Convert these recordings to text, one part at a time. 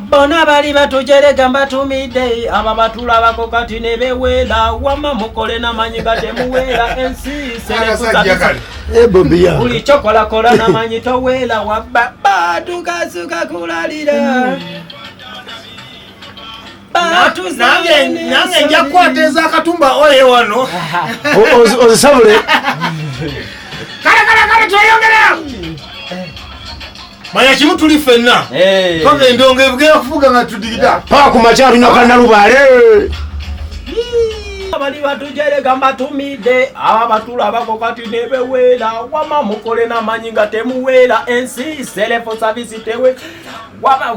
bona bali batujerega mbatumidde aba batulabako kati ne bewera wama mukole namanyi nga temuwera ensi serekusabisa buli kyokolakola namanyi towera wabba batukasuka kulalira nange nja kukwata ezakatumba oye wano ozisabule kale kale kale tweyongereo manya kimu tuli fenna paka endongo ebugera kufuga nga tudigida paka ku makya tulina kana lubaale abali batujerega mbatumidde aba batulabako kati nebeweera wama mukole namanyi nga temuweera ensi selefu savisi tewe wama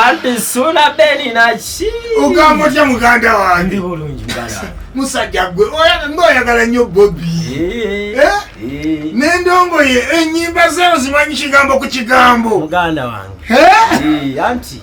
anti sula beni naki ogamba otya muganda wange bulungi musajja gwe ngaoyagala nnyo bobi eh, eh? eh. nendongo ye enyimba zeo zimanyi kigambo ku kigambo muganda wange anti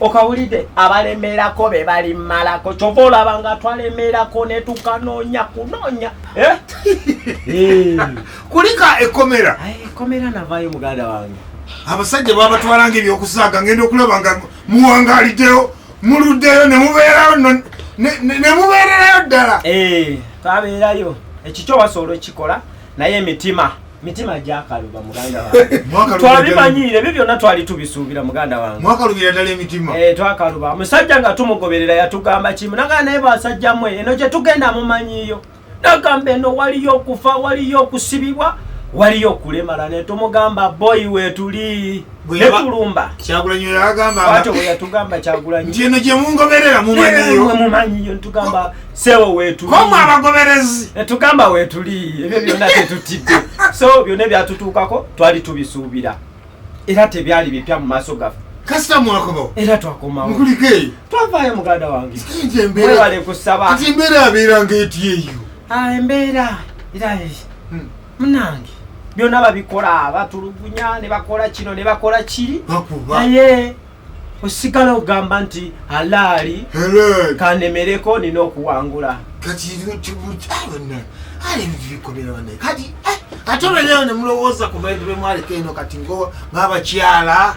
okawulidde abalemerako be balimalako kyova olaba nga twalemerako netukanoonya kunoonya eh? eh. kulika ekomera ekomera navayo muganda wange abasajja babatwalanga ebyokusaaga ngenda okulaba nga muwangaliddeyo muluddeyo nemubeerayo nemubeererayo ddala eh, twabeerayo ekikyo wasobola okikola naye mitima mitima gyakaluba muganda wange twabimanyire ebyo byonna twali tubisuubira muganda wange mwakalubira ddala emitima eh, twakaluba musajja nga tumugoberera yatugamba kimu nagaa naye basajja mwe eno gye tugenda mumanyiyo nagamba eno waliyo okufa waliyo okusibibwa waliyo okulemala ne tumugamba boyi wetuli ntino gyemungoberera mumanyiyomumanyiyotugambasewowetulietugamba wetuli ebyo byonna tetutidde so byonna ebyatutuukako twali tubisuubira era tebyali bipya mu maaso gaffe kasita mwakomawo era twakomawo mukulika eyo twavaayo muganda wange webale kusaba kati embeera abeera ngaetyeyo ah, embeera era hmm. munange byonna babikola batulugunya ne bakola kino ne bakola kiri naye osigala ogamba nti alaali kanemereko nina okuwangula ate obeneyo nemulowooza ku bantu bemwaleka eno kati ngabakyala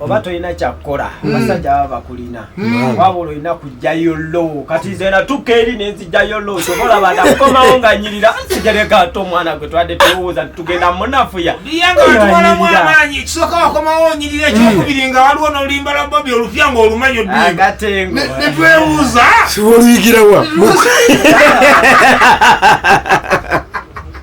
oba tolina kyakkola hmm. basajja baba bakulina hmm. waba olina kujjayo lowo kati nze natuka eri nenzijjayo lowo sobola bada kukomawo nga nyirira nsigereka ate omwana gwe twade tewooza tugenda munafuya netwewuuza siwoluyigirawa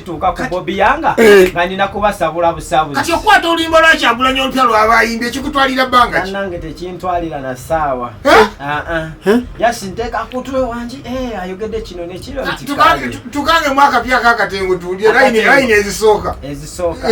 tuuka ku bobi yanga eh. nga nina kubasabula busabuzi kati okukwata oluyimba lwa kyagulanyi olupya lwaba ayimbye ekikutwalira bbanga ki nange tekintwalira na saawa eh? ah, ah. eh? yasi nteeka kutwe wangi ayogedde kino nekiro ah, tukange mu akapya kakatengo tuwulire layini ezisooka ezisooka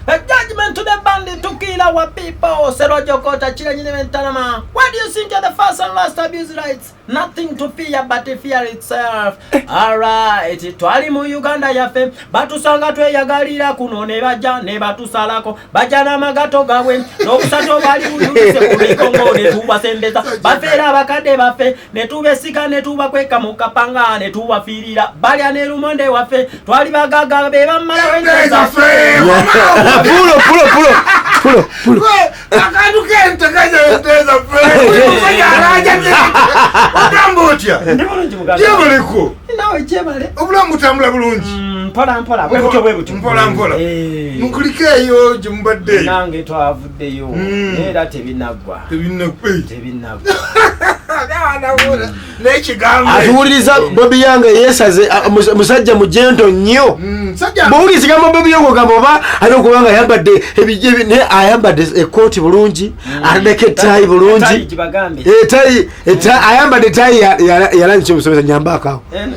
A judgment to the bandit to kill our people. Serojo Kota, Chile, Nyine, Tanama. What do you think are the first and last abuse rights? Nothing to fear but fear itself. Alright, twali mu Uganda yaffe batusanga tweyagalira kuno ne bajja ne batusalako bajja n'amagato gaabwe n'obusato bwali buyulise ku mikongo ne tubasembeza bafeera abakadde baffe ne tubesiga ne tubakweka mu kapanga ne tubafiirira balya ne lumonde waffe twali bagagga be bammalawo enjazaffe akantu kente kanyenteza pemusajaraja ogamba otya jebaleko obulamu butambula bulungi mm, mpolampola eh. mukulike eyo gyemubadde nange twavuddeyo mm. era tebinaggwa tebinaggwa atuwuliriza bobi yange yesaze musajja mujento nnyo mm, bwowuliriza gamba bobi yange ogamba oba alina okuba nga ayambadde naye ayambadde ekooti bulungi mm. atadeko etayi bulungi ayambadde etayi yalangi kyomusomesa nyambaakaawo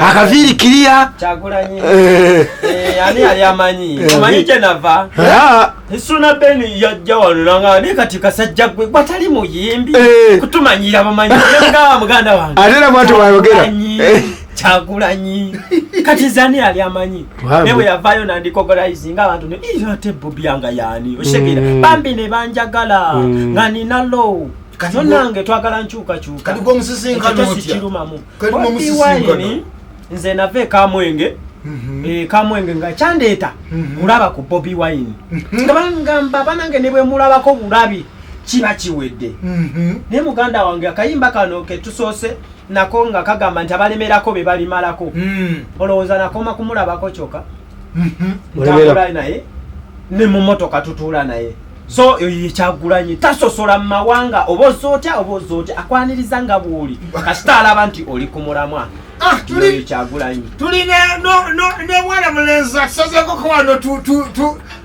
akaviiri kiriya eh. eh, ani yali amanyi eh. omanyi gyenava isuna beni yajja wanulanga naye kati kasajja gwe gwatali muyimbi kutumanyira bamanyi nga muganda wange ate na mwatu wayogera kyagulanyi kati zani yali amanyi naye bwe yavayo nandikogorayizi nga abantu ate bobyanga yani oshegera mm. bambi ne banjagala mm. nga ninalo nonange twagala nkyukakyuka kati gwomusisinkanotyakiruma mu kali mu Bobi musisinkano Wine, nze nava ekamwenge Mhm. eh, kamwenge nga kyandeeta Mhm. kulaba ku bobi wine nga bangamba banange ne bwe mulabako bulabi kiba kiwedde Mhm. naye muganda wange akayimba kano ketusoose nako nga kagamba nti abalemerako be balimalako Mm. olowooza nakoma kumulabako kyoka Mhm. Ntambula naye ne mu motoka tutuula naye so yekyagulanyi tasosola mu mawanga oba ozza otya oba ozza otya akwaniriza nga bwoli kasita alaba nti oli ku mulamwa ah, yekyagulanyi tuli ne mwana mulenzi atusazeko kowano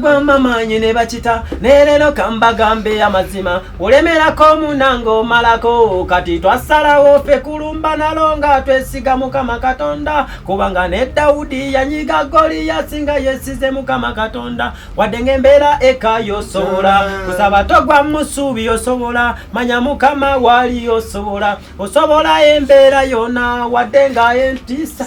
gwamba maanyi ne bakita neerero kambagambe amazima olemerako omunanga omalako kati twasalawo ffe kulumba nalo nga twesiga mukama katonda kubanga ne dawudi yanyiga goliyasi nga yesize mukama katonda wadde ng'embeera eka yosobola kusaba togwa musuubi yosobola manya mukama waali yosobola osobola embeera yona wadde nga entisa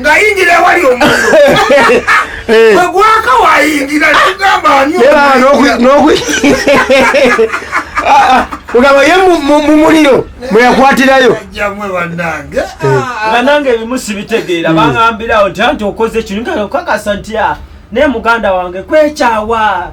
ngayingira ewali omuntu egwaka wayingira tugamba ogamba ye mumuliro mweyakwatirayo banange eh. ah. ebimu sibitegeera hmm. bangambirawo nti anti okoze kino kakasa nti ah, naye muganda wange kwekyawa